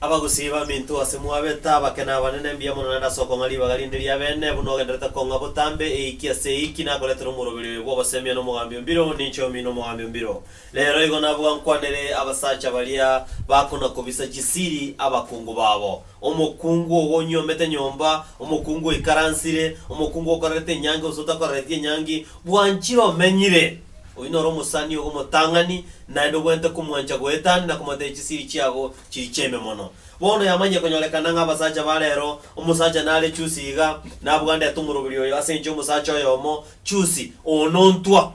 Abagosiiba aminto ase mwabete abake na abanene, mbuya mono naende ase okong'a ribaga rinde ri'abeene, buna ogenderete kong'a botambe eiki ase eiki, nakoretera omoroberio oyo bw'obosemia na omogambi o mbiro, ninche omino omogambi o mbiro. Reero igo nabwo nkwanere abasacha baria bakona-kobisa chisiri abakungu babo, omokungu ogo onyuomete nyomba, omokungu oikaransire, omokungu okorerete enyangi gose otakoreretie enyangi, bwanchire omenyire. Oyio noro omosani ogo omotang'ani, naende obwenerete komwancha goetani na komotebia chisiri chiago chiri chiaime mono. Bono yamanyire konyorekana ng'a abasacha ba rero, omosacha nare Chusi iga, nabwandete omoroberi oyo ase enchio y'omosacha oyomo, Chusi, oo nontwa.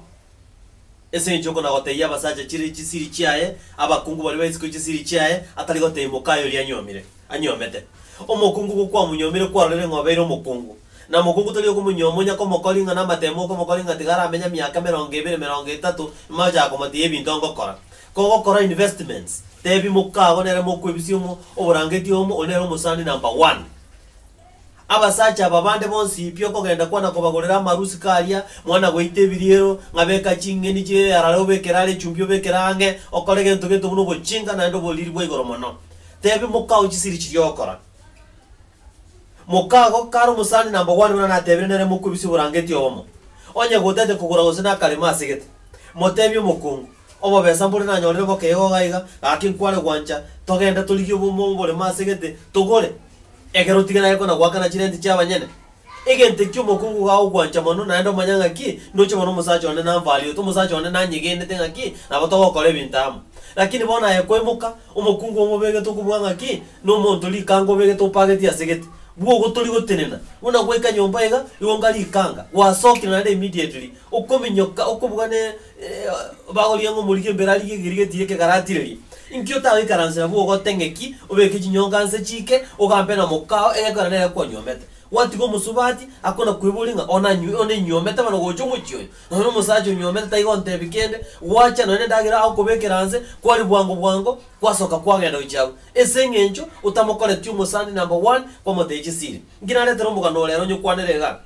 Ase enchio okonagoteyia abasacha chire chisiri chiaye, abakungu baria baisiko chisiri chiaye, atari gotebia mokaye oria anyuomire. anyuomete. Omokungu igo kwamonyuomire kwarorire ng'a obeire omokungu. Na omokungu tori okomonyuoma onya komokori ng'a namatemo okomokori ng'a tiga aramenye emiaka emerongo ebere, emerongo etato, ime ochake komotiia ebinto angokora. Kogokora investments, tebi moka ago nere mokwebisia omo oborangeti omo, oyo nere omosani number one. Abasacha aba bande bonsi pi okogenda kwana kobagorera amarusi karia mwana goita ebiriero, ng'a beka ching'eni chie earare obekere are echumbi obekere ang'e, okore gento gento buna ogochinga naende oboriri bwa igoro mono. Tebi mokao chisiri chiria ogokora. Mokago kare omosani namba one buna natebire nere mokwe bisibora angeti obomo. Onye gotete kogora gose nakarema asegete, motebi omokungu. Obobesa mbore nanyorire boke iga oga iga, gaki nkware gwancha, togende torigie obomo obore maase egete, togore, ekero otige naye kona goakana chirenti chi'abanyene. Egento ekio omokungu iga agogwancha mono, naende omanya ng'a ki, ndoche mono omosacha one nambariote, omosacha one nanyegenete ng'a ki, nabo togokora ebinto amo. Lakini bono aye koimoka, omokungu obo obegete okobuga ng'a ki, nomonto rikanga obegete opagetie ase gete, bua ogotori gotenena, buna gwaika nyomba iga, igo nga rikanga, gwasokire naende immediately, okominyoka, okobuga ne, Bagorie ng'a omoriki embere arigie egerigeti eria kegaraatirerie. Inki otagoikaransa nabwo ogote ng'eki, obeke chinyonga nse chiike, ogampe na mokao egekogera nere kwanyuomete? Gwatiga omosubati akonakweboria ng'a onanyw onenywomete bono gocha omochie oyo? Nonya omosacha onywomete taiga ontebia kende, gwacha nonya nendagera agokobekera nse, kwari bwango bwango kwasoka kwagenda gochia agwo. Ese eng'encho otamokoreti omosani number one kwamotebia chisiri. Inki naretere omogano ore ere onyokwanere igaa?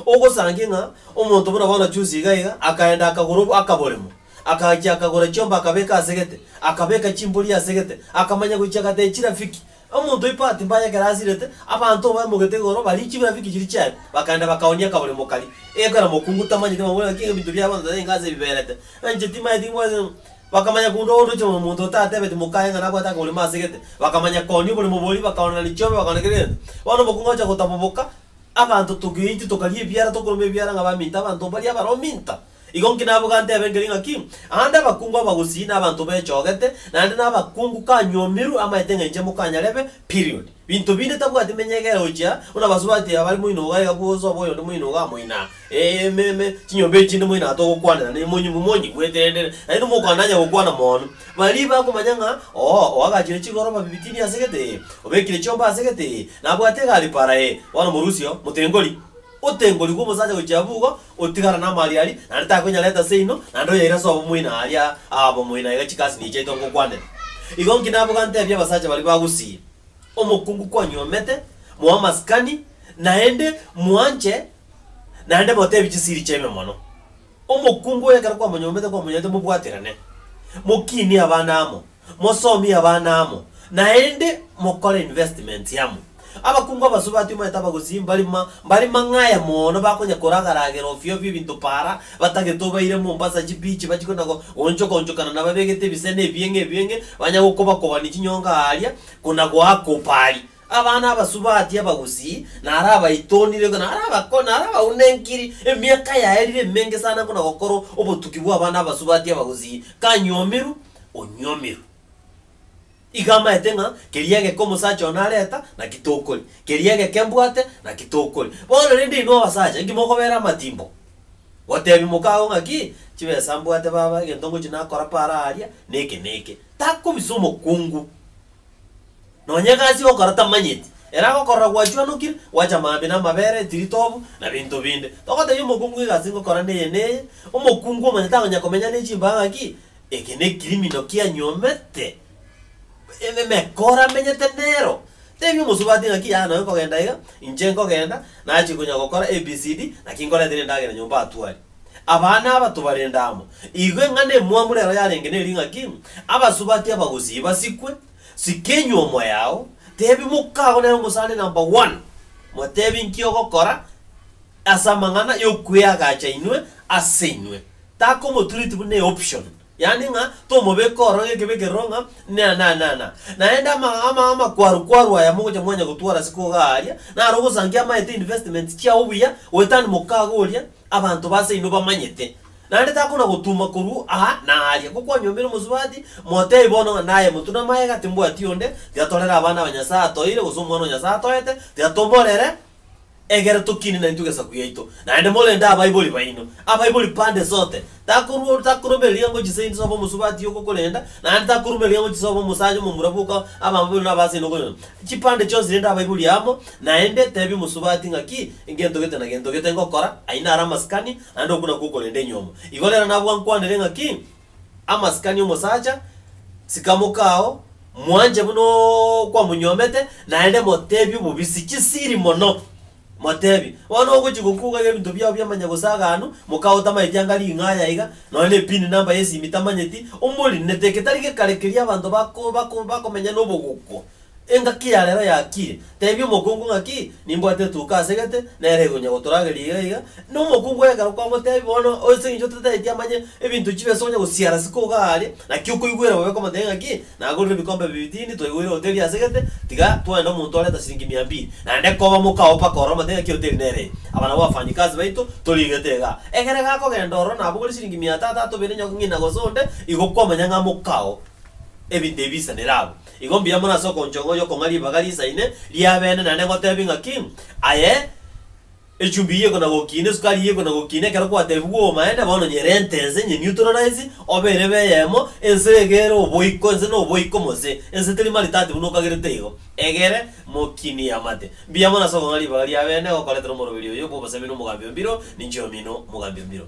Ogosangia ng'a omonto buna bono chunsi iga iga akaenda akagora ob akaboremo, akagachia akagora chiomba akabeka ase gete, akabeka chimbori ase gete, akamanya gochia agatee chirafiki. Omonto oyo bahati mbaya ekero asirete, abanto obaemogete igoro barie chibirafiki chiria chiaye, bakaenda bakaonia akaboremo karia. Ekero mokungu tamanyeti bamobwate ng'a kei ebinto bia abanto tari enka ase ebiberete, enche timaeti ng'wase ng'a. Bakamanya korwa obondo oche korwa omonto otatebeti mokaye ng'a nabwate akaboremo ase gete, bakamanya kooni oboremo boria bakaonana ne chiombe bakaonana kera egento. Bono omokungu agocha gotaboboka, Abanto togeite tokaria ebiara tokoroma ebiara ng'a baminto abanto mbaria abaro minto. Igo nki nabo gantebe nkeri ng'aki, Aande abakungu abagosii na abanto bechogete, naende na abakungu kanywomirwe amaete ng'a inche mokanyarebe, period. Binto binde tabwati menyegera gochia buna basubati abare moino iga iga bwosa obo oyonde moino iga amoino aa. Emeeme, chinyomba echi chinde moino atogokwanera ne monyumu monye bw'eterendere, naende mokwananya gokwana mono. Baria bakomanya ng'a oo oagachire chigoroba bibitini ase gete ee, obekire chiomba ase gete ee, nabwate egari para ee, bono morusia oo, motengori. Otengori bw'omosacha gochia abwo igo, otigara namariari, naende takonyara eta seino, naende oyaira ase obomoina aria aa obomoina iga chikasi nigo chiaito ngokwanera. Igo inki nabo gantebia abasacha baria bagusii, Omokungu kwanyuomete, moamasikani, naende mwanche, Naende moteebie chisiri chiaino mono. Omokungu oyo ekero kwamonyombete kwamonyarete mobwaterane, mokinie abana amo, mosomie abana amo, naende mokore investments amo. Abakungu abasube atiomanyete abagosii mbari mbari mang'aya mono bakonya koragaragera ofio ofio ebinto para batagete obaire Mombasa chibichi bachie kona goonchoka onchokana nababegete ebisena ebieng'e ebieng'e banya gokobakobani chinyonga aaria kona goakopa aria. Abana abasubati abagusii, narabaitonire, narabako, narabaunenkiri, emiaka yaerire emenge sana buna gokorwa obotuki bw'abana abasubati abagusii, kanyuomiru, onyuomiru. Iga amaete ng'a, Keria egeke omosacha oo nareta, naki tokori? Keria egeke mbwate, naki tokori? Bono rende inwe abasacha, inki mokobeera amatimbo? Goteebia mokago ng'aki, Chibesa mbwate baba, egento ngochia nakora paara aaria, neke na eke. Takobisa omokungu Nonya egasi ogokora tamanyeti, ere agokorora gwachwanokire, gwacha maambia na amabere, etiritobu, na binto binde. Togotebia omokungu ng'a egasi ngokora neye neye, omokungu omonyene takonyara komenya ne chimbaga ng'a ki? Eke nekirimino kianyuomete eme emekora amenyete nero. Tebia omosubati ng'a ki? Yaya nonya nkogenda iga, inche nkogenda, nachia konya gokora ABCD, naki nkorete nendagera nyomba atwari. Abana abato barende amo. Igo eng'ana emwamu rero yarenge neri ng'a ki? Abasubati abagusii basikwe, sika enywomo yao, tebi mokago nere omosani number one, motebi nki ogokora ase amang'ana y'okweagacha inwe ase inwe. Takomotureti buna eoption. yaani ng'a tomobeke ororo gekibe ekeroro ng'a na na na na. Naende ama ama amakwaru kwaru aya mogocha mwanya gotwara ase koga aaria, naro ogosangia amaete investments chiao buya, goetani mokaga oria, abanto base inwe bamanyete. Naende takona gotuma korwa aa na aaria, ngo kwanyombire omosubati, motebi bono ng'a naye motuna magega timbwati onde, tiga torere abana aba Nyasae atoeire gose omwana o Nyasae atoete, tiga tomorere, Egera tokine naintwe gesaku yaito, naende morende abaibori baino. Abaibori pande zote. Takorua, takorobereria ngochi seintwe soba omosubati ogokorenda, naende takorobereria ngochi soba omosacha omomura boka abamabera naba ase ino okorenda. Chipande chionsi rende abaibori amo, naende tebia omosubati ng'a ki, ngento gete na gento gete ngokora, aye nare amasikani, naende okwo nakwo okorenda enyomo. Igo rero nabwankwanere ng'a ki, Amasikani omosacha, sikamoka ao, mwanche buna okwamonyuomete, naende moteebie obobisi chisiri mono. Moteebie, Bono ogochia gokuga iga ebinto biao biamanya gosaganu, mokao tamaeti anga ring'aya iga, nonya ne pin number y'esimi tamanyeti, omorine teke tari gekare keria abanto bako bako bakomenya nobogokwo, Engaki ya rero yakiire. Teebia omokungu ng'aki, Nimbwate etuko ase gete, nere egonya gotorageria iga iga. Na omokungu ekero kwamoteebia, Bono, ase eng'encho totaeti amanye ebinto chibio ase onya gosiara isiko iga aaria, naki okoigwera bobe komoteebia ng'aki, Nagorire ebikombe bibiri tindi twaigweire hoteli ase gete, tiga twaende omonto oreta chiringi mia mbiri, naende koba moka oo mpaka ore omoteebie ng'aki hoteli nere eye. Aba nabwo abafanyikazi baito torie gete iga. Ekero gakogenda ororo nabogorire chiringi mia atato atubere nyo ng'ina gose onde, igo kwamanya ng'a moka oo ebinto ebi biisanire abwo. Igo mbuya mono ase okonchong'o y'okong'a ribaga riisaine ri'abeene, naende ngoteebie ng'aki, Aye echumbi y'igeko na gokiina, esukari y'igeko na gokiina, ekero kwateebigwa obomaene, bono nyere entense, nye neutralize, obe erebe eyemo, ense iga ere oboiko, ense noboiko mose, ense teri maritati buna okagerete igo, egere mokinie amate. Mbuya mono ase okong'a ribaga ri'abeene, gokoretera omoroberi oyo bw'obosemi na omogambi o mbiro, ninche omino omogambi o mbiro.